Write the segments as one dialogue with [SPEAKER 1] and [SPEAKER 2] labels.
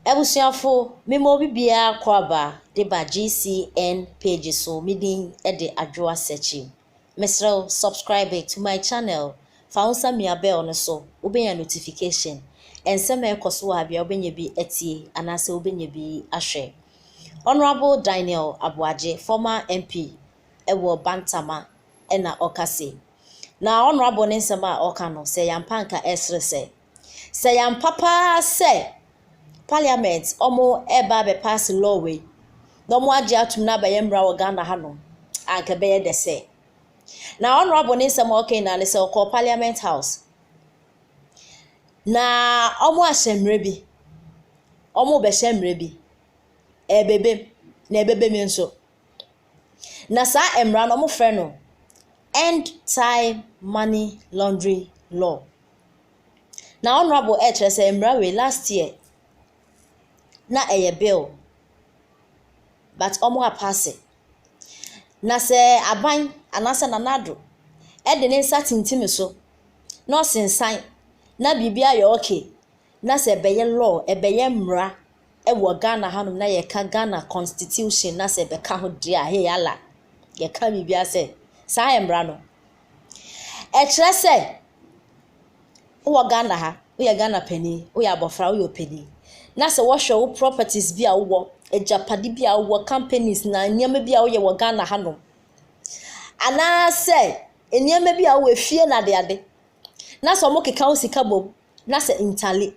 [SPEAKER 1] Abusuafo, mema obi biara kɔ aba de ba GCN page so me din de Adwoa Searchy. Mesrɛ wo subscribe it to my channel, fa wo nsa mia bell no so, wobɛnya notification, nsɛm a ɛkɔ so wɔ ha biara wobɛnya bi atie anaasɛ wobɛnya bi ahwɛ. Honourable Daniel Aboagye, former MP ɛwɔ Bantama na ɔka se, na Honourable ne nsɛm a ɔka no, sɛ yɛampa anka ɛsere sɛ, sɛ yɛampa paa sɛ Parliament wɔreba abɛpaase law wei na wɔagye atom na abɛyɛ mmara wɔ Ghana hanom anka ɛbɛyɛ dɛ sɛ. Na Honourable ne nsɛm a ɔka nyinaa ne sɛ ɔkɔɔ Parliament House na wɔahyɛ mmerɛ bi, wɔrebɛhyɛ mmerɛ bi, ɛrebɛbam na ɛbɛbam nso. Na saa mmara no wɔfrɛ no End Time Money Laundering Law. Na honourable ɛrekyerɛ sɛ mmara wei last year na ɛyɛ bill but wɔn apaase. Na sɛ aban anaa sɛ Nana Addo de ne nsa tintim so na ɔsensan na biribiara yɛ okay na sɛ ɛbɛyɛ law, ɛbɛyɛ mmara wɔ Ghana ha nom na yɛka Ghana constitution na sɛ bɛka ho deɛ a hey Allah yɛka biribiara sɛ saa yɛ mmara no. Ɛkyerɛ sɛ wowɔ Ghana ha, woyɛ Ghana panin, woyɛ abɔfra, woyɛ ɔpanin na sɛ wɔhwɛ wo properties bi a wowɔ, agyapade bi a wowɔ, companies na nneɛma bi a woyɛ wɔ Ghana ha nom anaasɛ nneɛma bi a wowɔ efie na adeade na sɛ wɔkeka wo sika bom na sɛ ntale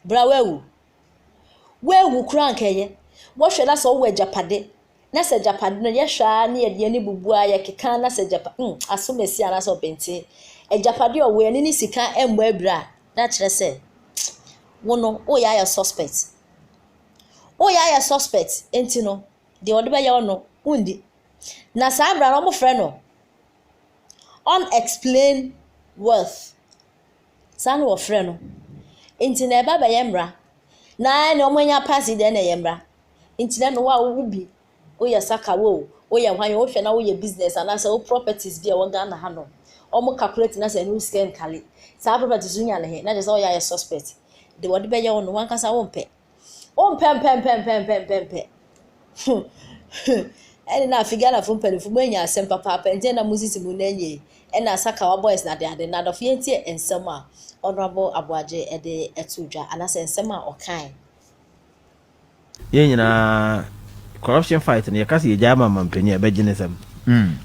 [SPEAKER 1] Bra woawu. Woawu koraa anka ɛyɛ. Wɔhwɛ na sɛ wowɔ agyapade, na sɛ agyapade no yɛhwɛ ara na yɛde yɛn ani bubu ara yɛkeka na sɛ agyapa mm asomasi anaasɛ ɔbentie. Agyapade a ɔwɔ yi ɛne ne sika mmɔ abira a, na kyerɛ sɛ wo no woyɛ ayɛ suspect. Woyɛ ayɛ suspect nti no deɛ ɔde bɛyɛ wo no wondi. Na saa mmara no wɔfrɛ no unexplained wealth. Saa na wɔfrɛ no. Nti na ɛba bɛyɛ mmara. Na ɛne wɔanya pass deɛ na ɛyɛ mmara. Nti na ɛne wo a wowo bi, woyɛ saka wo o, woyɛ hwan o, wohwɛ na woyɛ business anaasɛ wo properties bi a ɛwɔ Ghana ha nom, wɔn calculate na sɛ ɛne wo sika nkale. Saa properties no wonya no he, na kyerɛ sɛ woyɛ ayɛ suspect. Deɛ wɔde bɛyɛ wo no, wo ankasa wompɛ. Wompɛmpɛmpɛmpɛmpɛmpɛ. Huh, huh. Ɛne na afei Ghanafo mpanyimfo moanya asɛm papaapa nti na mosisi mo nan yie. Ɛne Asakawa boys no adeade. Na adɔfo yɛntie nsɛm a Honourable Aboagye de to dwa anaasɛ nsɛm a ɔkae.
[SPEAKER 2] Yɛn nyinaa corruption fight no yɛka sɛ yɛgyae ma manpanin a ɛbɛgye ne nsam.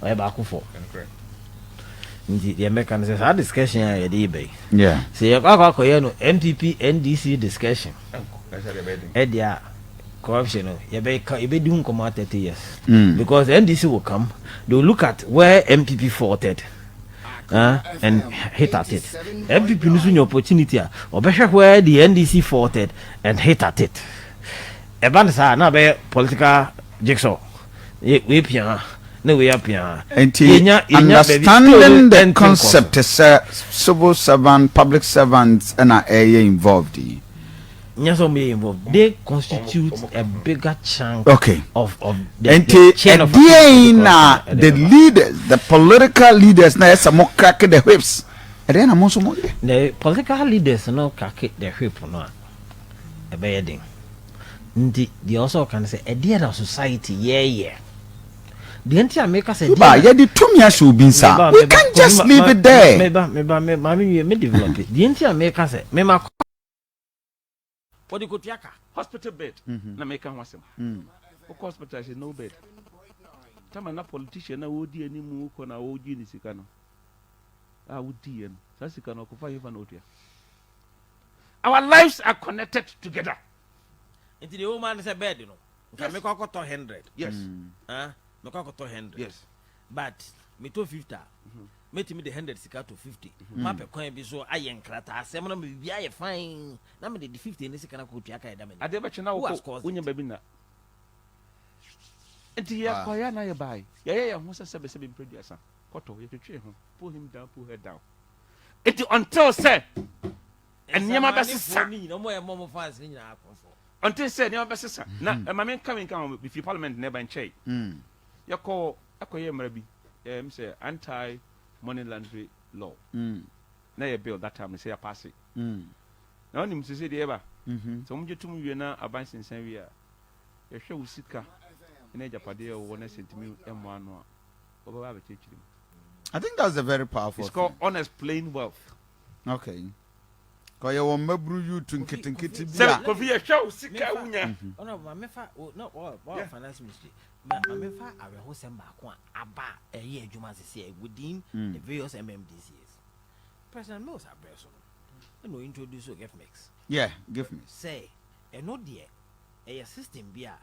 [SPEAKER 2] Ɔyɛ baako fɔ. nti deɛ mɛka no sɛ saa discussion a yɛde yi bɛyi sɛ yɛkɔ akɔ
[SPEAKER 3] akɔyɛ
[SPEAKER 2] no npp ndc discussion ɛde a corruption no yɛbɛka yɛbɛdi ho nkɔmɔ thirty years mm. because ndc will come they will look at where npp faulted uh, and hit at it npp no so nya opportunity a ɔbɛhwɛ where the ndc faulted and hit at it ɛba no saa na bɛyɛ political jigsaw wei pia ha na wei apia ha. Nti
[SPEAKER 3] understanding the concept sɛ civil servant public servant ɛna ɛyɛ involved yi. Nyɛ
[SPEAKER 2] sɛ wɔn yɛ involved they constitute a bigger chunk okay. of of the, and the
[SPEAKER 3] chain of authority. na the leaders the political leaders na ɛsɛ mo crack the whips ɛdeɛ na mo nso mo yɛ. the political
[SPEAKER 2] leaders no crack the whip no a ɛbɛyɛ den. Nti deɛ ɔsɛ ɔka ne sɛ ɛdeɛ na society yɛɛyɛ deɛ nti a meka sɛ ba yɛde tumi ahyɛ
[SPEAKER 3] obi nsa we can just leave it there meba meba me maame wie
[SPEAKER 2] me develop deɛ nti a meka sɛ mema kɔ wɔde kɔtua ka hospital bed
[SPEAKER 4] na meka ho asɛm wokɔ hospital sɛ no bed tama na politician na wɔdi anim wokɔ na wɔgye ne sika no a wodiiɛ no saa sika no ɔkɔfa hefa na ɔtua our lives are connected together. nti
[SPEAKER 2] deɛ wɔma no sɛ bɛɛde no nka mekɔ akɔtɔ hundred yes
[SPEAKER 4] ah,
[SPEAKER 2] mekɔ akɔtɔ hundred yes but metɔ fifty a mhm. mɛtumi de hundred sika to fifty mhm. mapɛ kwan bi so ayɛ nkrataa asɛm na mewie ayɛ fine na mede de fifty ne sika no akɔtua ka ɛda mani adeɛ bɛkye na
[SPEAKER 4] wokɔ wonya baabi nna nti yɛkɔyɛ na yɛbae yɛyɛ yɛn ho sɛ sɛbɛsɛbɛ mprɛ duasa kɔtɔ yɛtwetwee ho pull him down pull her down Enti ɔntew sɛ nneɛma bɛsesa. Ɔntew sɛ nneɛma bɛsesa. Na hmm. ɛma me nka me nka ho bifi parliament na ɛba nkyɛe. Hmm. Yɛkɔ ɛkɔyɛ mmara bi ɛm sɛ anti money laundry law. Hmm. Na yɛ bill that time sɛ yɛapaase. Na wonim sɛ sɛ deɛ ɛba. Mhm. Sɛ wɔgye tom wie na aban sensan wie a yɛhwɛ wo sika ne agyapadeɛ a wɔwɔ no sɛ ntumi mmoa ano a wɔbɛba abɛkyerɛkyerɛ mu. I think that's
[SPEAKER 3] a very powerful It's called thing. Honest Plain
[SPEAKER 4] Wealth. Okay.
[SPEAKER 3] Ka ɔyɛ wɔn mmabunu youth Kofi- nketenkete Kofi- bi Sɛ a. Kofi yɛhwɛ
[SPEAKER 4] wo sika
[SPEAKER 3] a Mefa-
[SPEAKER 4] wonya. Ɔno ma mefa
[SPEAKER 2] o- na ɔ- ɔ- Yeah. finance ministry ma ma mefa awerɛhosɛm baako a aba a ɛyɛ adwuma sesɛ within Mm. the various mmdcs president mills abrɛ so no ɛna ɔintroduce o gifmix Yeah, give me.
[SPEAKER 3] sɛ ɛno
[SPEAKER 2] deɛ ɛyɛ system bi a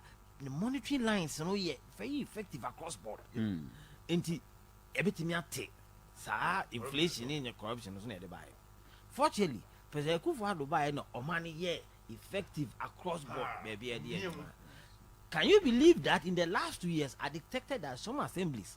[SPEAKER 2] Ne monitoring lines no yɛ very effective across board. Nti ɛbɛtumi ate saa inflation ne ne corruption no so na ɛde baeɛ. Fortunately, President Akufo Addo baeɛ na ɔma no yɛ effective across board baabi a ɛde yɛ adwuma. Can you believe that in the last two years I detected that some assemblies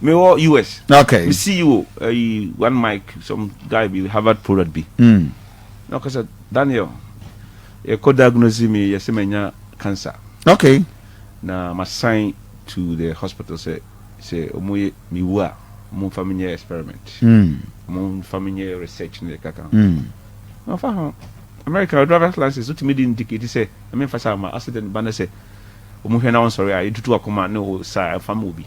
[SPEAKER 4] Me wɔ US. Okay. Me see you
[SPEAKER 3] ɛyi
[SPEAKER 4] one mic some guy bi Harvard product bi. Mm. Na ɔka sɛ Daniel yɛkɔ diagnose me yɛ sɛ manya cancer. Okay.
[SPEAKER 3] Na ma
[SPEAKER 4] sign to the hospital sɛ sɛ ɔmo yɛ me wu a ɔmo nfa me nyɛ experiment. Mm. Ɔmo nfa me nyɛ research ne kaka. Mm. Na ɔfa ho American driver's license so tumi di indicate sɛ ɛmɛ nfa saa ma accident ba ne sɛ ɔmo hwɛ na ɔnsɔre a etutu akoma ne o saa ɛfa ma obi.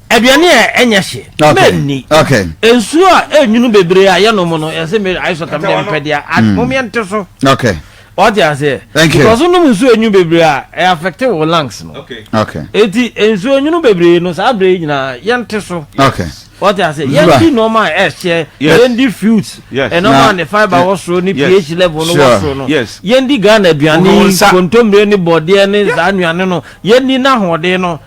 [SPEAKER 3] Aduane a ɛnyɛ hye, mɛnni. Nsuo a ɛnwunu bebree a yɛnom no, ɛsɛ me ayɛ sɔtam deɛ mpɛ deɛ a, mm. momeɛ nte so. Okay. Wate aseɛ?
[SPEAKER 2] Thank you. Because wonom nsuo
[SPEAKER 3] ɛnwunu
[SPEAKER 2] bebree a, ɛ affect wo lungs no. Okay. Okay. Eti
[SPEAKER 3] nsuo ɛnwunu
[SPEAKER 2] bebree no, saa bere nyinaa yɛnte so. Okay. Wate
[SPEAKER 3] aseɛ? Yɛndi
[SPEAKER 2] nneɛma a ɛhyɛ, yɛndi fruits, nneɛma a ne fibre wɔ soro ne pH level no wɔ soro no. Yɛndi Ghana aduane, kontommire ne bɔdeɛ ne saa nnuane no, yɛndi n'ahoɔden no.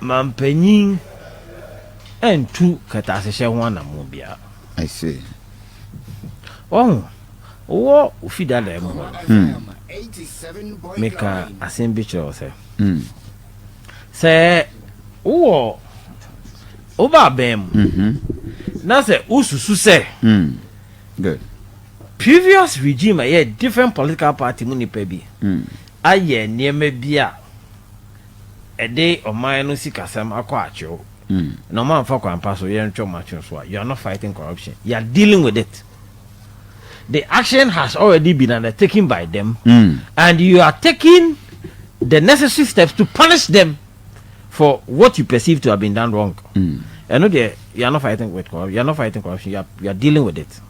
[SPEAKER 2] Mampanyin antu kɛtɛasehyɛ ho anamɔn biara. I see. Wahu, wɔ wo fi dadaa mu hɔ no, mekaa asɛm bi kyerɛɛ wo sɛ, sɛ wowɔ wo ba abɛn mu na sɛ wosusu sɛ previous regime a ɛyɛ different political party mu nnipa bi ayɛ nneɛma bi a ɛde ɔman no sikasɛm akɔ atwew na ɔmo amfa kwan pa so yɛntwe ɔmo atwew so a you are not fighting corruption, you are dealing with it. The action has already been undertaken by them and you are taking the necessary steps to punish them for what you perceive to have been done wrong. Ɛno deɛ you are not fighting with corruption, you are not fighting corruption, you are, you are dealing with it.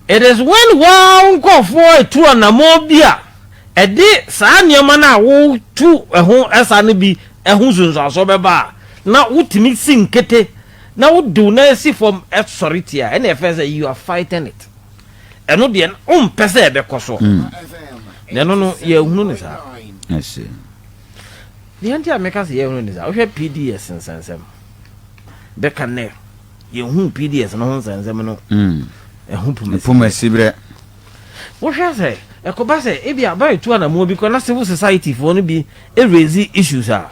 [SPEAKER 2] It is when woaa wo nkorɔfoɔ atu anammɔn bi a ɛde saa nneɛma no a wotu ho sa no bi ho nsunsuansoɔ bɛba a, na wotumi si nkete na wode wo nan si fam sɔre tia a, ɛnna ɛfɛɛ sɛ you are fighting it. Ɛno deɛ na wompɛ sɛ ɛbɛkɔ soɔ. Na ɛno no, yɛahunu no saa. I see. Deɛ nti a meka sɛ yɛahunu no saa, wohwɛ PDS nsɛnsɛm bɛka nnɛ, Yɛnhuu PDS no ho nsɛnsɛm no ho pomasiberɛ.
[SPEAKER 3] Wohwɛ
[SPEAKER 2] sɛ ɛkɔba sɛ ebia bere retu anammɔn bi kɔ na civil society foɔ no bi raise issues a,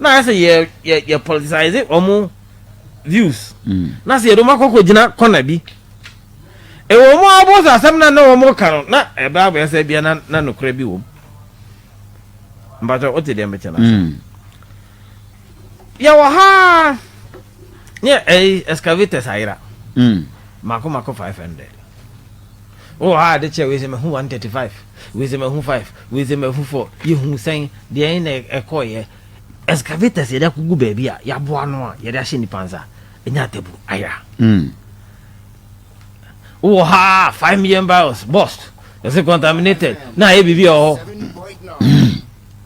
[SPEAKER 2] na ayɛ sɛ yɛ politicize wɔn views, na sɛ yɛde wɔn akɔ kɔgyina kɔna bi. Ɛwɔ mu ara bɔ sɛ asɛm no a na wɔn reka no, na ɛbɛ abɛyɛ sɛ ebia na nokorɛ bi wɔ mu. Mpakyɛ wote deɛ mekyɛ no ase. Yɛwɔ ha ara. ne ɛyi excavators ayera mako hmm. mako five hundred wowɔ hɔ a de kyɛ wei sɛ mahu one thirty five wei sɛ mahu five wei sɛ mahu four yɛhu sɛn deɛ na ɛkɔɔyɛ excavators yɛde akogu baabi a yɛaboa no a yɛde ahyɛ nnipa nsa ɛnya atabu ayera hmm. wowɔ hɔ a five million barrels bust ɛsɛ contaminated na ayɛ biribi a ɔhɔ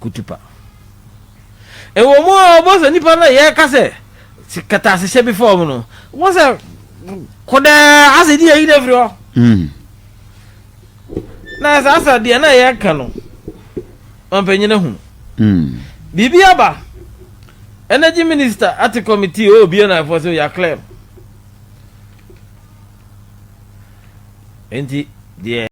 [SPEAKER 2] kutupa. Ɛwɔ mu a wɔbɔ sɛ nnipa no yɛka sɛ kɛtɛasehyɛ bi fam no, wɔbɔ sɛ kodɛ ase di ayi no afiri hɔ. Hmm. Na saa sɛ deɛ na yɛka no, ɔmpanyina hu. Hmm. Biribi aba. Energy Minister ate committee o bie na ɛfɔ sɛ yɛaklɛm. Enti deɛ